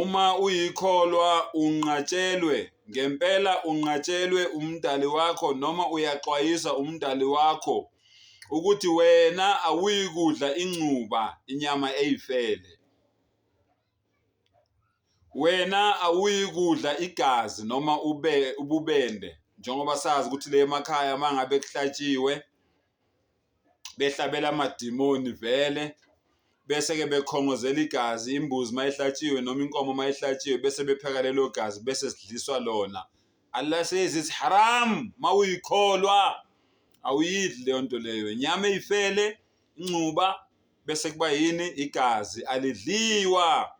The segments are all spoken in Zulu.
Uma uyikholwa unqatshelwe, ngempela unqatshelwe uMdali wakho noma uyaxwayiswa uMdali wakho ukuthi wena awuyikudla ingcuba inyama eyifele. Wena awuyikudla igazi noma ube ububende njengoba sazi ukuthi le emakhaya mangabe kuhlatshiwe behlabela amadimoni vele bese-ke bekhongozela igazi imbuzi uma ihlatshiwe noma inkomo uma ihlatshiwe bese bepheka lelo gazi bese sidliswa lona Allah says it's haram uma uyikholwa awuyidli leyo nto leyo inyama eyifele incuba bese kuba yini igazi alidliwa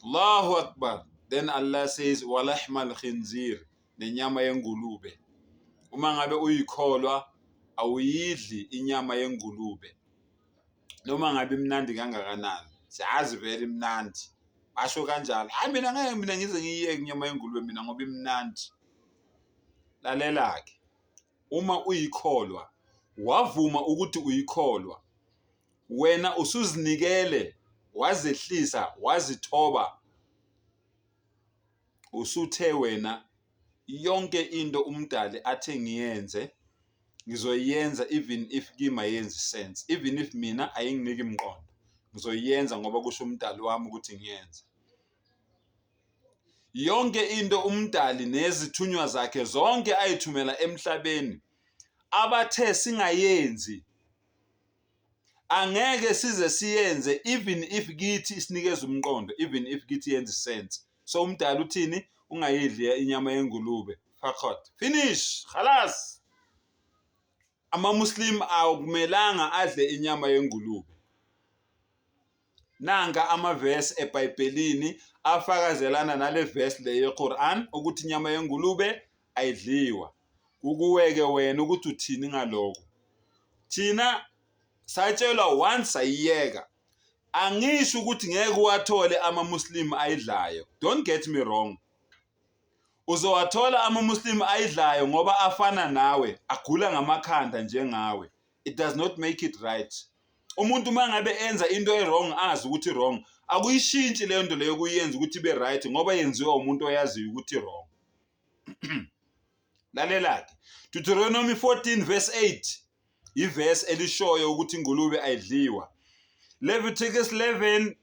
Allahu akbar then Allah says walahmal khinzir nenyama yengulube. Uma ngabe uyikholwa awuyidli inyama yengulube noma ngabe imnandi kangakanani, siyazi vele imnandi basho kanjalo. Hhayi mina ngeke mina ngize ngiyiyeke inyama yengulube mina ngoba imnandi. Lalela-ke uma uyikholwa wavuma ukuthi uyikholwa wena usuzinikele wazehlisa wazithoba usuthe wena yonke into umdali athe ngiyenze ngizoyenza even if kima yenzi sense even if mina ayinginiki mqondo ngizoyenza ngoba kusho umdali wami ukuthi ngiyenze yonke into umdali nezithunywa zakhe zonke ayithumela emhlabeni abathe singayenzi angeke size siyenze even if kithi isinikeza umqondo even if kithi yenza isense so umdala uthini ungayidli inyama yengulube fakhot finish khalas amamuslim akumelanga adle inyama yengulube Nanka amavesi eBhayibhelini afakazelana nale vesi le yeQuran ukuthi inyama yengulube ayidliwa. Kukuweke wena ukuthi uthini ngaloko. Thina satshelwa once sayiyeka. Angisho ukuthi ngeke uwathole amaMuslim ayidlayo. Don't get me wrong. Uzowathola amaMuslim ayidlayo ngoba afana nawe, agula ngamakhanda njengawe. it does not make it right umuntu uma ngabe enza into e-wrong azi ukuthi wrong akuyishintshi leyo nto leyo kuyenza ukuthi ibe right ngoba yenziwa umuntu oyaziyo ukuthi wrong lalela-ke deuteronomy 14 verse 8 ivesi elishoyo ukuthi ingulube ayidliwa leviticus 11